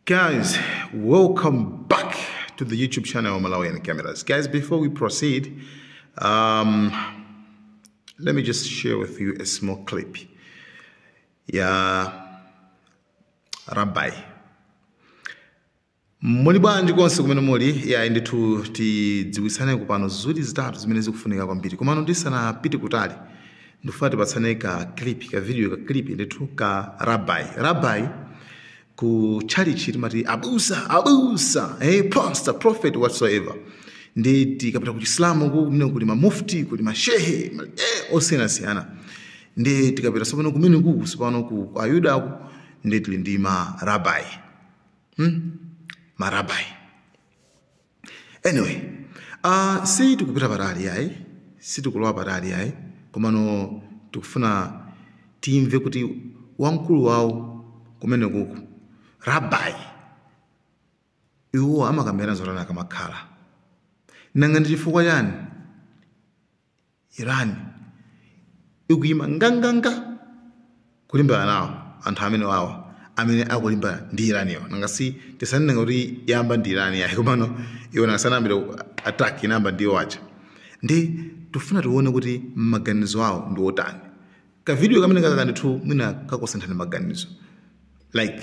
Guys, welcome back to the YouTube channel Malawian Cameras. Guys, before we proceed, um, let me just share with you a small clip. Yeah, Rabbi. muli bwanji konse kumene muli yayi ndithu tidziwitsaneko pano zinthu zitatu zimene zikufunika kwambiri komano ndisanapite kutali ndifuna tipatsane ka clip ka video ka clip ndithu ka rabbi rabbi ku chalichi timati abusa abusa eh, pastor prophet whatsoever ndi tikapita ku chisilamu kumene kuli mamufti kuli mashehe ma- eh, osiyanasiyana ndi tikapita sopano kumeneku sopano ku ku Ayudako ndi tili ndi ma rabbi hmm? ma rabbi anyway uh, si tikupita patali ayi si tikulowa patali ayi komano tikufuna timve kuti wamkulu wawo kumeneku rabbi iwo amakambirana zotani akamakhala nanga ndi chifukwa chani Iran ikuyima nganganga kulimbana nawo anthu amenewa amene akulimbana ndi Iran-yo nanga si tisanenenso kuti yayamba ndi Iran yayi komano iwo nanga sanayambire attack anayamba ndi iwo aja ndi tikufuna tione kuti maganizo awo ndi otani kavidiyo kameneka ndithu mwina kakusinthani maganizo like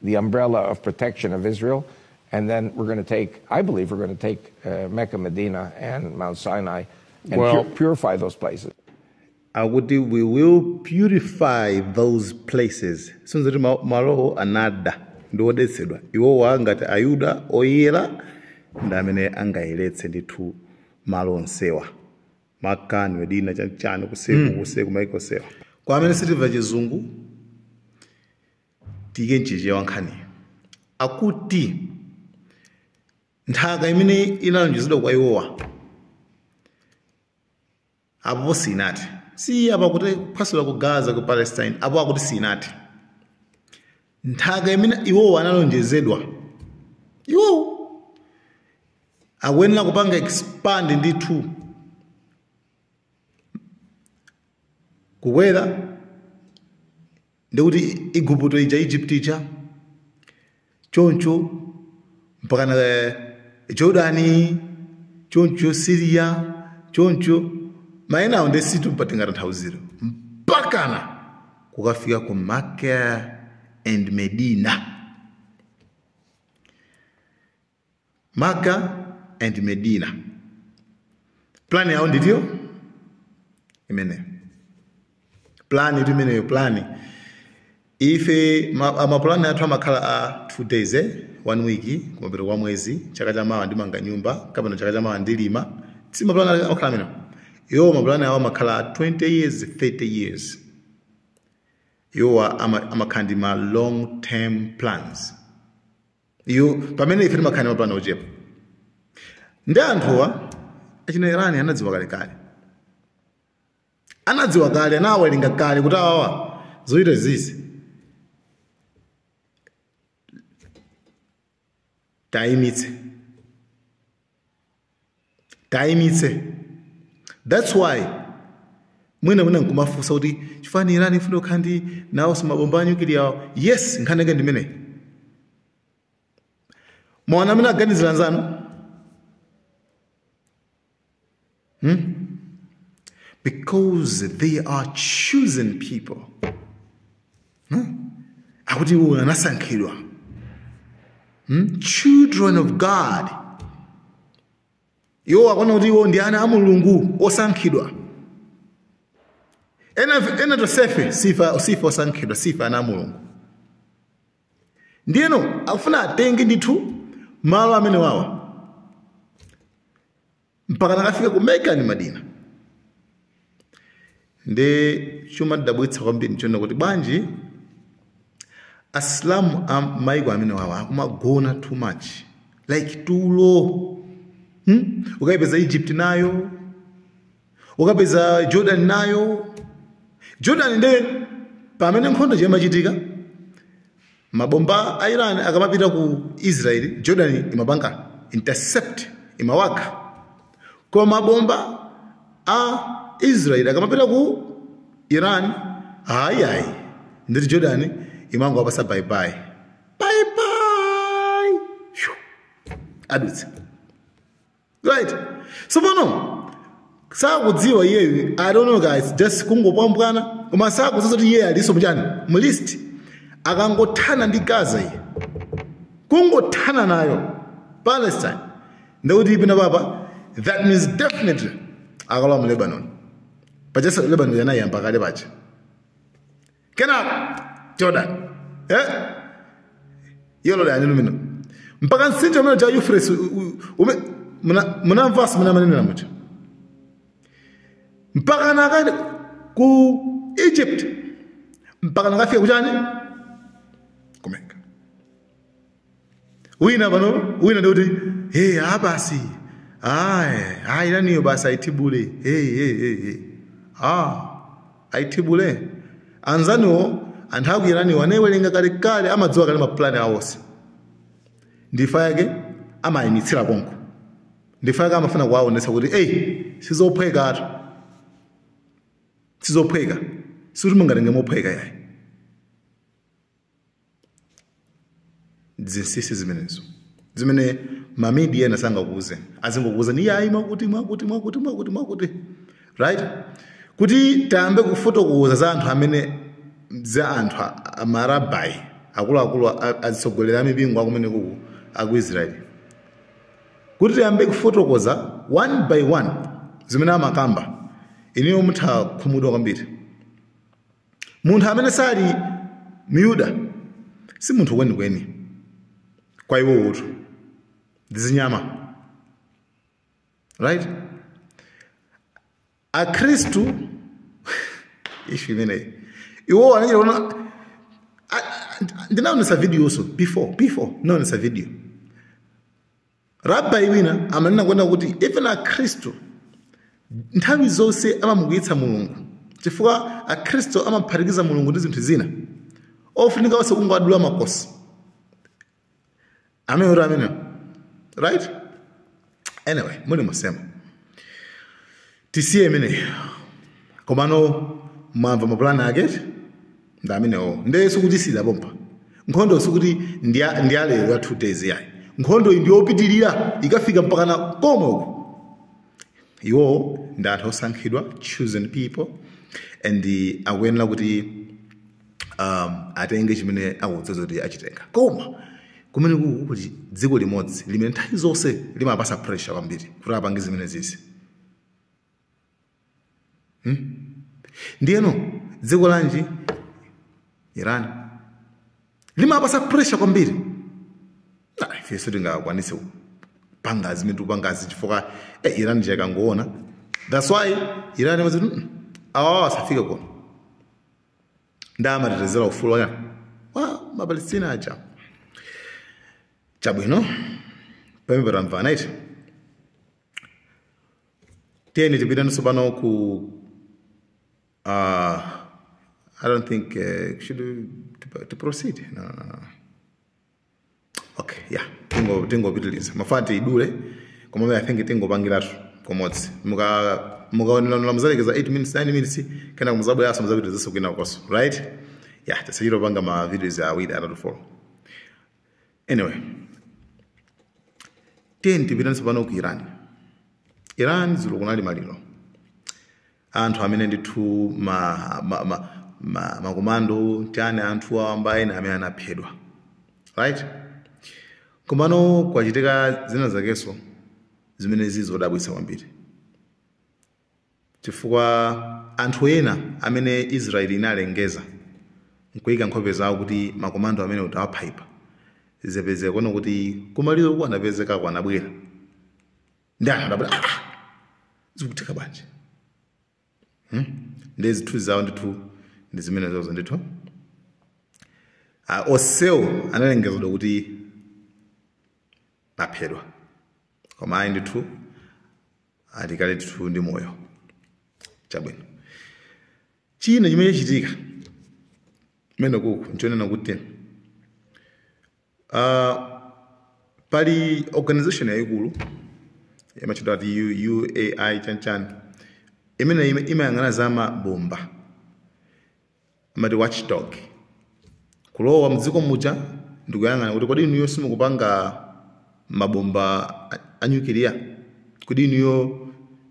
the umbrella of protection of Israel. And then we're going to take, I believe we're going to take uh, Mecca, Medina, and Mount Sinai and well, pur- purify those places. Akuti we will purify those places. Zikusonyeza kuti malowo anada ndi odetsedwa iwowa ngati ayuda oyera ndi amene angayeretse ndithu malo onsewa Mecca ndi Medina chani kuseku hmm. kuseku maiko sewa kwa amene sitimva chizungu Tiike m'Chichewa nkhaniyo. Akuti nthaka imene inalonjezedwa kwa iwowa apopo siinati. Si apo akuti kuphwasula ku Gaza ku Palestine apo akuti siinati. Nthaka imene iwowa analonjezedwa iwowo akuyenera kupanga expand ndithu kukwera ndi kuti igupto ija egypt ija choncho mpakana eh, jordani choncho siriya choncho maina awo ndi zinthu pa tingatanthauzire mpakana kukafika ku Mecca and Medina Makkah and Medina. Plani yawo ndithu imeneyo, plani tu imeneyo, plani ife ma- a- mapulani athu amakhala a two days eh? one week kumapeto kwa mwezi chaka cha mawa ndimanga nyumba kapena chaka cha mawa ndilima si mapulani ali- akhala amene iwo mapulani awo amakhala a 20 years 30 years iwowa ama- amakhala ndi ma long term plans iwo pamene ife timakhala ndi mapulani ochepa ndi anthuwa achina irani anadziwa kalekale anadziwa kale anawerenga kale kuti awawa zochita zizi tayimitse taimitse thats why mwina mwina nkumafunsa kuti chifukwa chani irani ifuna kukhala ndi nawonso mabomba a nyukiliya awo yes nkhani yake ndimeneyi mwaona mmene akuganizira anzanu because they are chosen people no akuti iwo anasankhidwa hmm? children of god iwo akuona kuti iwo ndi ana a mulungu osankhidwa ena, ena tonsefe sife sife osankhidwa sife ana a mulungu ndiyeno akufuna atenge ndithu malo amenewawa mpaka nakafika ku mecca ndi madina ndi chomatidabwitsa kwambiri nchonena kuti bwanji asilamu a maiko amenewawa akumagona too much like tulo hmm? ukayipeza egypt nayo ukapeza jordan nayo jordan nde pamene nkhondo imachitika Mabomba a Iran akamapita ku Israel, Jordan imapanga intercept, imawakha. Koma mabomba a Israel akamapita ku Iran, ayi ayi, ndithu Jordan imangowapasa bye bye. Bye bye. Phew. Adutsa. right tsopano sakudziwa iyeyu i don't know guys just kungopwambwana koma sakudziwa kuti iyeyu alinso mchani mu list akangothana ndi gaza iye kungothana nayo palestine ndikuti ipina papa that means definitely akalowa mu lebanon paja lebanon anayiyamba kale paja kenako jordan eh? yolo lyanyu lumino mpaka mtsinje umene uja euphrates u- u- ume- muna- munamvanso mene amanenera muja mpaka nakani ku egypt mpaka nakafika kuchani ku mecca wina pano wina ndikuti hey, abasi aku Iraniwo basi ayithibule hey, hey, hey, hey. ah ayithibule anzanuwo anthu aku Iraniwo anayiwerenga kalekale amadziwa kale mapulani awo onse ndifa yake amayimitsira konko ndifa yake amafuna kuwaonetsa kuti eyi sizophweka atu sizophweka sikuti mungatenge mophweka yayi zinsinsi zimenezo zimene mamidia ena sangakuuze azingokuuzani iyayi mwakuti mwakuti mwakuti mwakuti mwakuti right kuti tiyambe kufotokoza za anthu amene za anthu a- a- marabai akuluakulu a- azitsogolera amipingo akumenekuku aku israeli kuti tiyambe kufotokoza one by one zimene amakamba inuyo mutha khumudwa kwambiri munthu amene sali myuda si munthu kwenikweni kwa iwowotu ndi zinyama right akhristu ishu imeneyo iwo anachita kunena ndinaonesa videonso before before ndinaonesa video Rabbi wina amanena kunena kuti even Akhristu nthawi zonse amamukwiyitsa Mulungu chifukwa Akhristu amaphatikiza Mulungu ndi zinthu zina ofunika onse kungowadula makosi amene kuti amenewo right anyway muli musema tisiye imeneyo komano mwamva mapulani ake ndi amenewo nde sikuti isiyira pompa nkhondo sikuti ndi ya- ndi yalero ya two days yayi nkhondo iyi ndiyopitirira ikafika mpakana komwe uku iwo ndi anthu osankhidwa chosen people and akuyenera kuti um, atenge chimene akudziwa kuti achitenga koma kumene kuku kuti dziko limodzi limene nthawi zonse limawapasa pressure kwambiri kuti apange zimene zizi hmm? ndiyeno dziko lanji iran limawapasa pressure kwambiri nah, ifeso tingakwanise kupanga zimene tikupangazi chifukwa eh, iran chakangoona that's why iran imati awa asafike kuno nda amatetezera ufulu wa wa mapalestina aja chabwino pamene tamvana eti tiyeni tipiteni tsopano ku uh, i don't think uh, should we, to, to proceed no, no, no. okay ya yeah. tingo tingopitiliza mafuna tidule komabe i think tingopangiratu komodzi muka mukaonera muzalekeza 8 minutes 9 minutes kenako muzabweranso muzapitilizaso kwina konko right ya yeah, tisachito panga ma videos awiri atatu follow anyway tiyeni tipite tsopano ku iran iran dzulo kunali maliro anthu amene ndithu ma, ma, ma, ma, makomando chani anthu awamba ena amene anaphedwa right komano kwachitika zina zakenso zimene zili zodabwitsa kwambiri chifukwa anthu ena amene israeli inalengeza nkuyika nkhope zawo kuti makomando amene tawapha apa zapezeka kuona kuti kumaliro uko anapezekako, anabwera ndi anthu abwera ah, ah! zikutheka bwanji hmm? nde zithunzi zawo ndithu ndi zimene zizo ndithu uh, onsewo analengezedwa kuti aphedwa koma ayi ndithu akadali ndithu ndi moyo chabwino china chimene chachitika kumene kuku nchonena kuti Uh, pali organization yayikulu imatchedwa kuti U- UAI chanchani imene imayang'ana za mabomba amati watchdog kulowa mdziko muja ndikuyang'ana kuti kodi inuyo simukupanga mabomba a- a nyukiliya kodi inuyo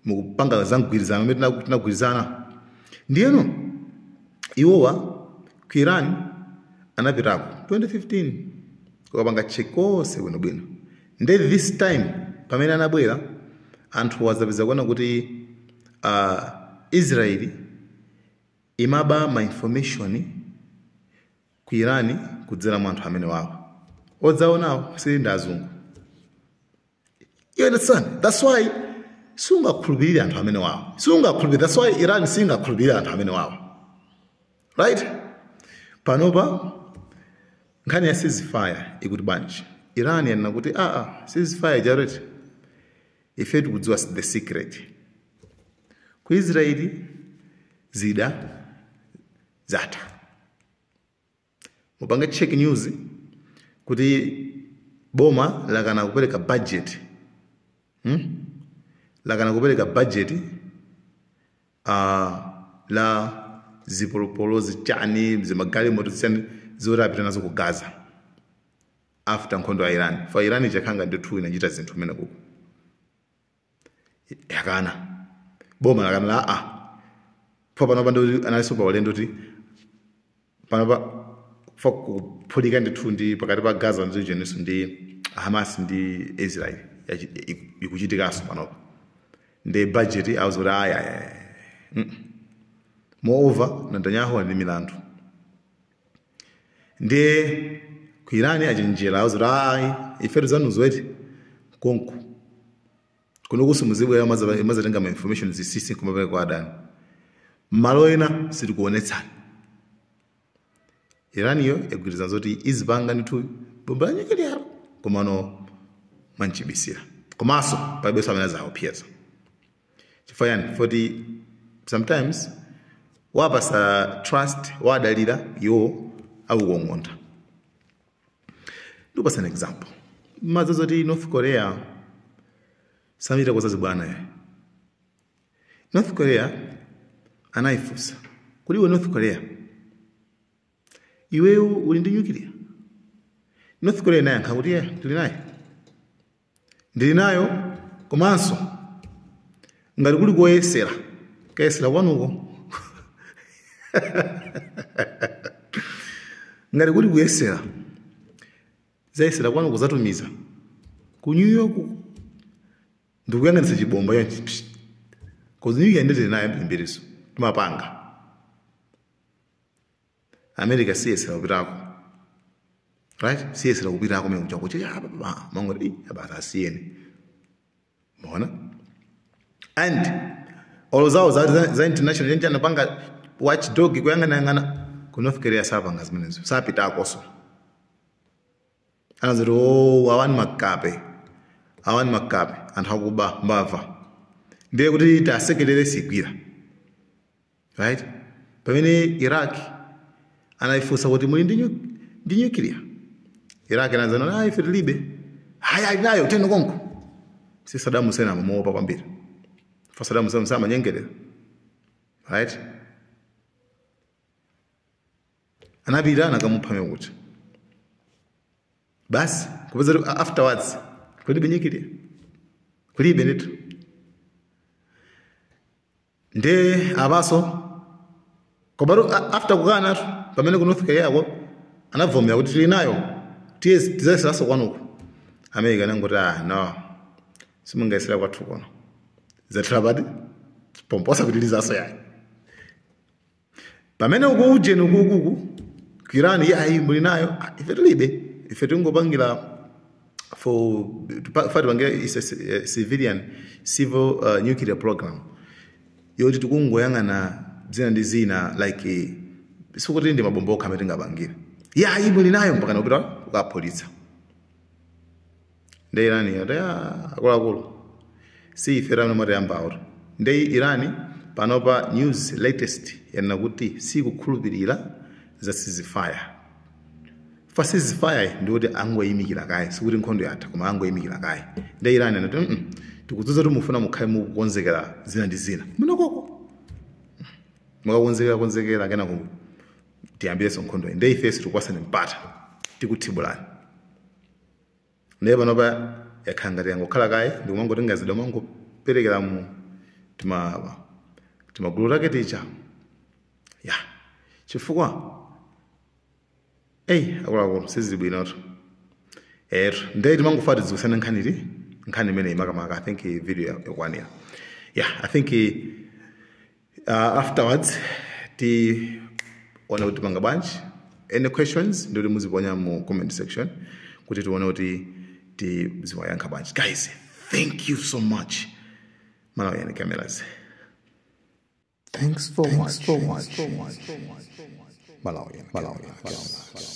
mukupanga za migwirizano amene tina- tinagwirizana ndiyeno iwowa ku iran anapitako 2015 kukapanga check konse bwinobwino nde this time pamene anabwera anthu azapeza kuona kuti uh, israeli imaba ma information Ku Iran kudzera mwa anthu amenewawa. Odzaonawo, si ndi azungu. You understand? That's why siungakhulupirire anthu amenewawa. Siungakhulupirire. That's why Iran singakhulupirire anthu amenewawa. Right? Panopa nkhani ya ceasefire ikuti bwanji? Iran yanena kuti ah ah ceasefire chani ife tikudziwa the secret. Ku Israeli zida zatha mupange check news kuti boma lakana kupereka budget hmm? lakana kupereka budget uh, la zipolopolo zichani zimagalimoto zichani zoti apite nazo ku gaza after nkhondo ya iran fa iran inachakhanga ndithu inachita zinthu kumene kuku ikanabomba akanala la a pfa panopa ndikuti analinso pa ulendo kuti panopa pfa kuphulika ndithu ndi pakati pa gaza ndi jeninso ndi hamas ndi israel yachi- iku- ikuchitikanso panopa ndi budget auza kuti ayi moreover netanyahu ali ndi milandu ndiye ku iran achenjera auza kuti ayi ife ndi zanuzo eti konko kuno kusamuzibwera maza- mazatenga ma information zinsinsi kumapereka kwa adani mmalo ena sitikuonetsani iran yo yagwirizana zoti izipanga ndithu bomba la nyukiliya komano mwachibisira komanso palibenso amene azaopseze chifukwa chani foti sometimes wapasa trust wadalira iwo akukong'ontha ndikupasa an example mwadziwa zoti north korea samachita zachibwana yayi north korea anayifunsa kuti iwe north korea iweyo uli ndi nyukiliya north korea inayankha kuti ye tili naye ndili nayo komanso ngati kuli koyesera kayesera kwanuko ngati kuli kuyesera tizayesera kwanuko tizatumiza ku new york ndikuyang'anitsa chibomba chonchi psh. konzi new york nde tili nayo yambirinso timapanga america siyesera kupitako right siyesera kupitako mene kuchako che ya baba mango eh abata asiyeni waona and all zawo za, za, za international yenje anapanga watchdog kuyangana yangana ku north korea sapanga zimenezo sapitakoso anati o awani makape awani makape anthu akuba mbava ndiye kuti tasekelere sigwira right pamene iraq anayifunsa kuti muli ndi nyu- ndi nyukiliya iraq anakana ayi ife tilibe ayi ali nayo eni konko si saddam hussein amamuopa kwambiri chifukwa saddam hussein samanyengerera right anapita anakamupha mwaona kuti basi kupeza kuti afterwards kulibe nyukiliya kulibe ndithu nde apanso komatu a- after kukanatu pamene ku north korea ko anabvomera kuti tili nayo tiye tizayeseranso kwanuko america inangoti ah no simungayesera kwathu kuno zathera basi pompo sapitilizanso yayi pamene uko ujeni ukuku ku Iran iyayi muli nayo Ah, ife tilibe ife tingopangira for pa- fati pangira is a ci- eh, civilian civil uh, nuclear program yoti tikungoyang'ana zina ndi zina like eh, sikuti ndi mabomba okha amene tingapangire iyayi muli nayo mpaka nakupita kukaphulitsa nde Iran yati "Ah, akuluakulu si ife amene mwatiyambawo nde Iran panopa news latest yanena kuti sikukhulupirira za ceasefire fa ceasefire ndi kuti angoyimikira kaye sikuti nkhondo yatha koma angoyimikira kaye nde Iran anati "Mm-mm, tikudziwa kuti mufuna mukhale mukukonzekera zina ndi zina munokoko mukakonzekera konzekera kenako tiyambirenso nkhondo nde ifenso sitikupatsani mpata tikuthibulani ndiye panopa yakhala ngati yangokhala kaye ndikumangotenga zida kumangoperekera mu tima timagulu take tija ya chifukwa eyi akuluakulu sizili bwinotu etu ndiye timangofuna tidziwitsane nkhani ti nkhani imeneyi makamaka i think video yakwanira ya i think Uh, afterwards tione kuti tipanga bwanji any questions ndikuti muziponya mu comment section kuti tione kuti tiziwayankha bwanji guys thank you so much Malawian cameras Thanks for watching. Malawian. Malawian.